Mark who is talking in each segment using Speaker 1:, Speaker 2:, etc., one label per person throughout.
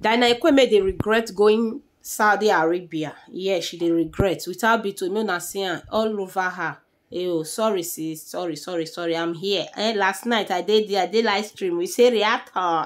Speaker 1: Dinah Ekweme dey regret going Saudi Arabia. Yes, she dey regret. Without Bito, no na see am all over her. Eyo, sorry sis, sorry, sorry, sorry, I'm here. Eh, last night I did there, I did live stream. We say react her.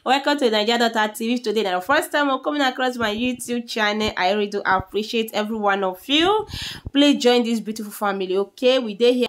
Speaker 1: Welcome to Nigeria Daughter TV. If today na your first time of coming across my YouTube channel, I really do appreciate every one of you. Please join this beautiful family, okay? We dey here.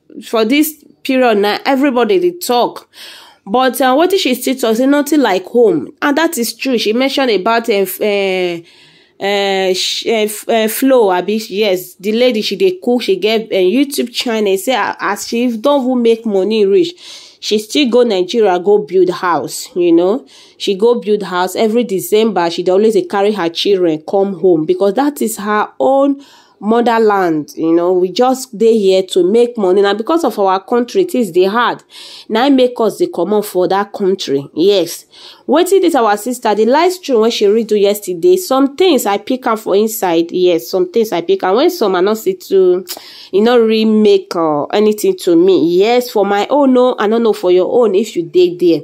Speaker 1: for this period now everybody dey talk but uh, wetin she still talk say nothing like home and that is true she mention about uh, uh, uh, sh- uh, f- uh, flow abi yes the lady she dey cook she get uh, youtube channel say a- as she don even make money reach she still go nigeria go build house you know she go build house every december she dey always dey carry her children come home because that is her own motherland you know we just dey here to make money na because of our country things dey hard na im make us dey comot for that country yes wetin this our sister the live stream wey she read do yesterday some things i pick am for inside yes some things i pick am when some are not see too e no really make uh, anything to me yes for my own no i no know for your own if you dey there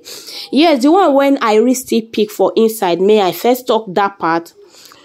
Speaker 1: yes the one when i really still pick for inside may i first talk that part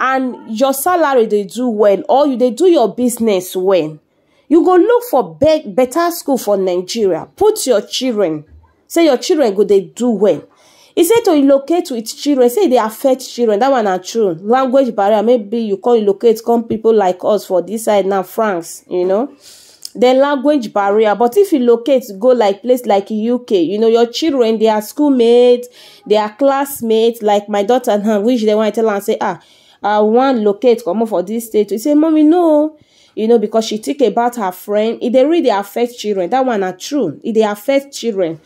Speaker 1: and your salary dey do well or you dey do your business well you go look for be better school for nigeria put your children say your children go dey do well e say to relocate with children say e dey affect children that one na true language barrier maybe you come relocate come people like us for this side now france you know the language barrier but if you locate go like place like uk you know your children their schoolmates their classmates like my daughter now which they want to tell am say ah i wan locate comot for this state you say mommy no you know because she think about her friend e dey really affect children that one na true e dey affect children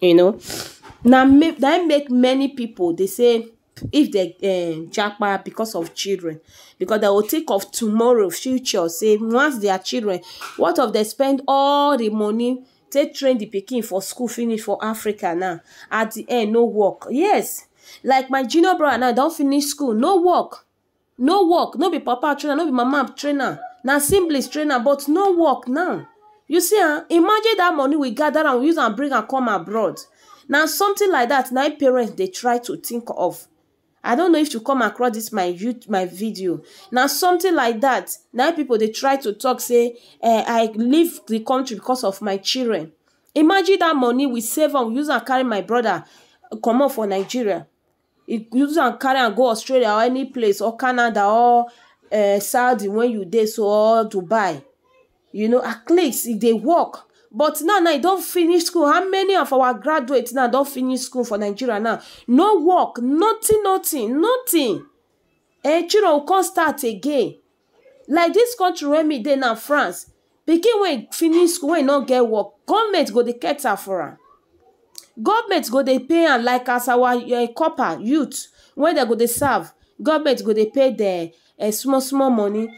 Speaker 1: you know na make na him make many people dey say if dem um japa because of children because dem go think of tomorrow future say once their children what of dem spend all the money take train the pikin for school finish for Africa now at the end no work yes like my junior brother now he don finish school no work no work no be papa train am no be mama train am na siblings train am but no work now you see am imagine that money we gather am we use am bring am come abroad na something like that na im parents dey try to think of i don't know if you come across this my youth my video na something like that na im people dey try to talk say eh, i leave the country because of my children imagine that money we save am we use am carry my brother comot for nigeria you use am carry am go Australia or any place or Canada or um Saudi wey you dey so or Dubai you know at least e dey work but now now e don finish school how many of our graduate now don finish school for Nigeria now no work nothing nothing nothing um children go come start again like dis country wey me dey now France pikin wey finish school wey no get work government go dey cater for am government go dey pay am like as our corper youth wey dem go dey serve government go dey pay dem small small money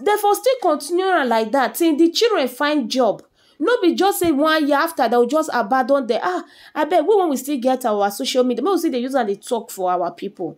Speaker 1: dem for still continue am like dat till di children find job no be just say one year after dem go just abandon dem ah abeg we wey we still get our social media make we still dey use am dey talk for our people.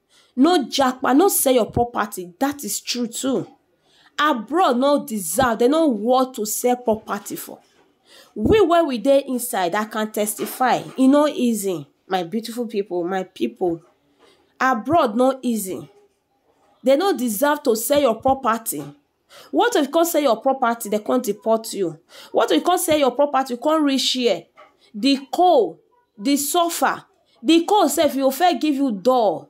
Speaker 1: no japa, no sell your property, that is true too. Abroad no deserve, they no worth to sell property for. We where we dey inside, I can testify. E no easy, my beautiful people, my people. Abroad no easy. They no deserve to sell your property. What if you come sell your property, dem come deport you? What if you come sell your property, you come reach here, the cold, the suffer, the cold sef e go first give you dull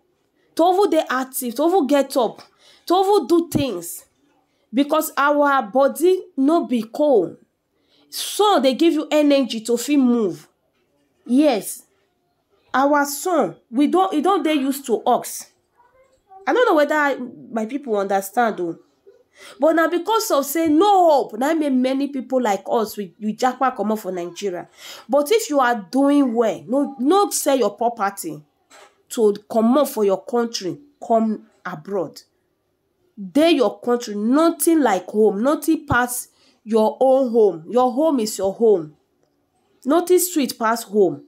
Speaker 1: to even dey active, to even get up, to even do things because our body no be cold. Sun dey give you energy to fit move yes our sun we don e don dey use to us I no know whether my people understand oo but na because of sey no hope na im make many people like us we we japa comot for Nigeria but if you are doing well no no sell your property to comot for your country come abroad. Dey your country nothing like home nothing pass your own home your home is your home nothing sweet pass home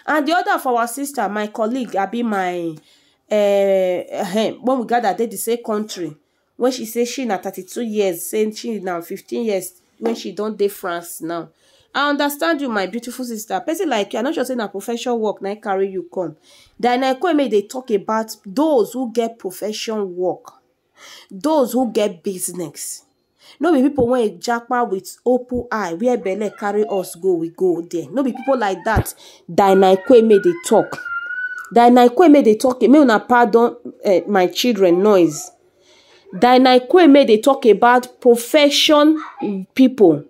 Speaker 1: and the other for our sister my colleague abi my um when we gather dey the same country when she say she na thirty two years say she na fifteen years when she don dey France now. I understand you, my beautiful sister. Person like you, I no sure say na profession work na carry you come. Then I come make dey talk about those who get profession work, those who get business. No be people wey japa with open eye, where belle carry us go, we go there. No be people like that. Then I come make dey talk. Then I come make dey talk. Make una pardon uh, my children noise. Dinah Ikweme dey talk about profession people,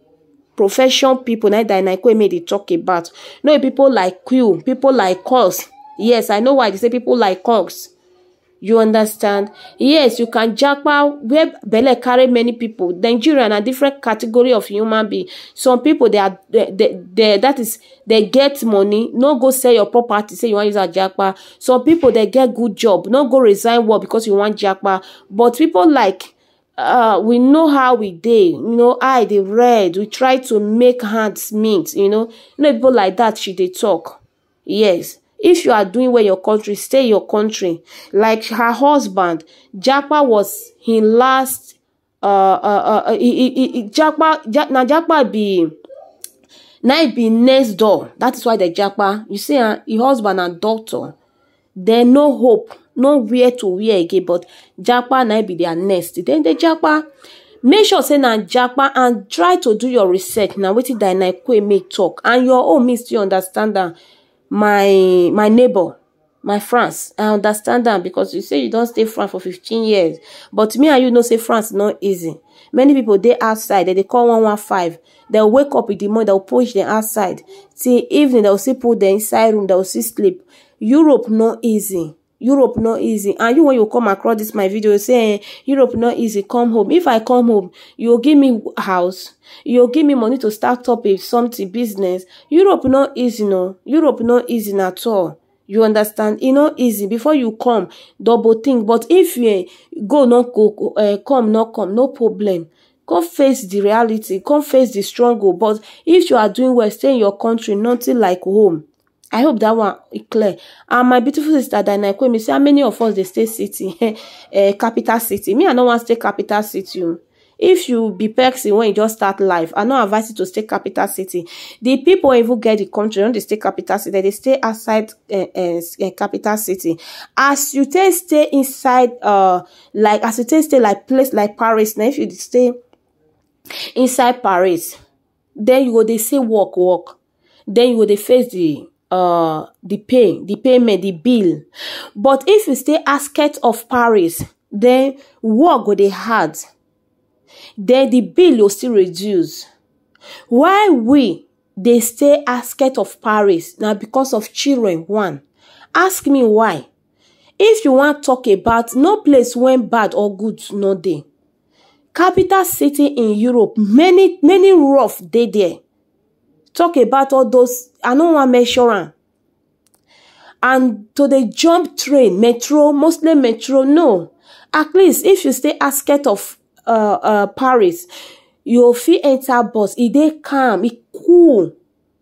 Speaker 1: profession people na im Dinah Ikweme dey talk about. No be people like you, people like us, yes I know why I dey say people like us, you understand. Yes you can japa where belle carry many people, Nigeria na different category of human being, some people they are that is dey get money no go sell your property say you wan use am japa some people dey get good job no go resign work because you wan japa but people like uh, we know how we dey you know eye dey red we try to make hands meet you know no people like that she dey talk yes if you are doing well in your country stay in your country like her husband japa was him last uh, uh, uh, uh, he, he, he, Japa, ja, na Japa be na he be next door. That is why the Japa. You see, uh, his husband and doctor. There no hope, no where to where again. But Japa na he be their next. Then the Japa make sure say na japa and try to do your research na wetin dynakwe make talk and your own me still understand am my my neighbor my france i understand am because you say you don stay france for 15 years but me and you know say france no easy many people dey outside dem dey call 115 dem wake up in the morning dem push dem outside till evening dem still put dem inside room dem still sleep europe no easy europe no easy and you when you come across this my video say eh, europe no easy come home if i come home you go give me house You give me money to start up a something business. Europe no easy no. Europe no easy na at all. You understand? E no easy. Before you come, double think. But if you eh, go no go, uh, come no come, no problem. Come face the reality. Come face the struggle. But if you are doing well, stay in your country. Nothing like home. I hope that one e clear. And my beautiful sister Dana Kwemi say how many of us dey stay city, eh, capital city. Me, I no wan stay capital city. o. If you be person when you just start life, I no advise you to stay capital city. The people wey even get the country don dey stay capital city. They dey stay outside eh, eh, s- eh, capital city. As you take stay inside, uh, like as you take stay like place like Paris, now if you dey stay inside Paris, then you go dey say work work then you go dey face the uh the pay the payment the bill but if you stay asket of paris then work go dey hard then the bill go still reduce why we dey stay asket of paris na because of children one ask me why if you wan talk about no place wey bad or good no dey Capital city in Europe many many rough dey there talk about all those I no wan mention am and to dey jump train metro mostly metro no at least if you stay outskirt of Paris you go fit enter bus e dey calm e cool.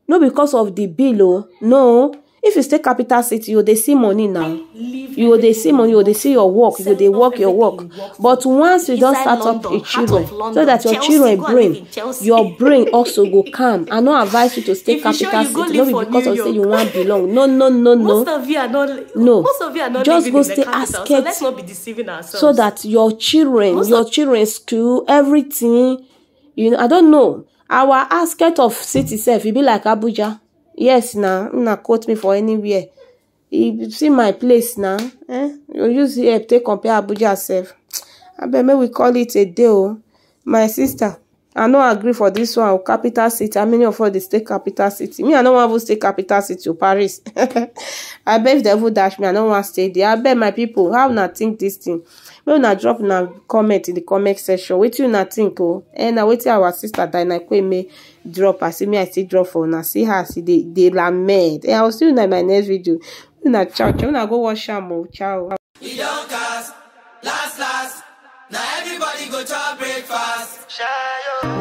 Speaker 1: No because of the bill oh, no. If you stay capital city, you dey see money now. Leave You go dey see money, you go dey see your work, you go dey work your work. But once you don Inside start up London, your heart children, of so London, that your Chelsea, children go and brain, live in Chelsea. your brain also go calm. I no advise you to stay If you sure capital you go city, no live be for because New of say you York. wan belong. No, no, no, no. Most of you are not. No. Most of you are not Just living go in the stay capital, so outskirts. let's not be deceiving ourselves. so that your children Most your children school everything you I don't know our outskirt of city sef e be like Abuja yes na make una quote me for anywhere you see my place na um you use here take compare Abuja sef abeg make we call it a day o my sister I no agree for this one o capital city how many of us dey stay capital city me I no wan even stay capital city o Paris abeg if dem even dash me I no wan stay there abeg my people how una think this thing. make una drop una comment in the comment section wetin una think o eh na wetin our sister Diana Kweme drop as me I still drop for una see her as e dey dey lament eh I will see una in my next video una ciao ciao una go watch am o ciao. e don cast last last na everybody go chop breakfast. Shayo.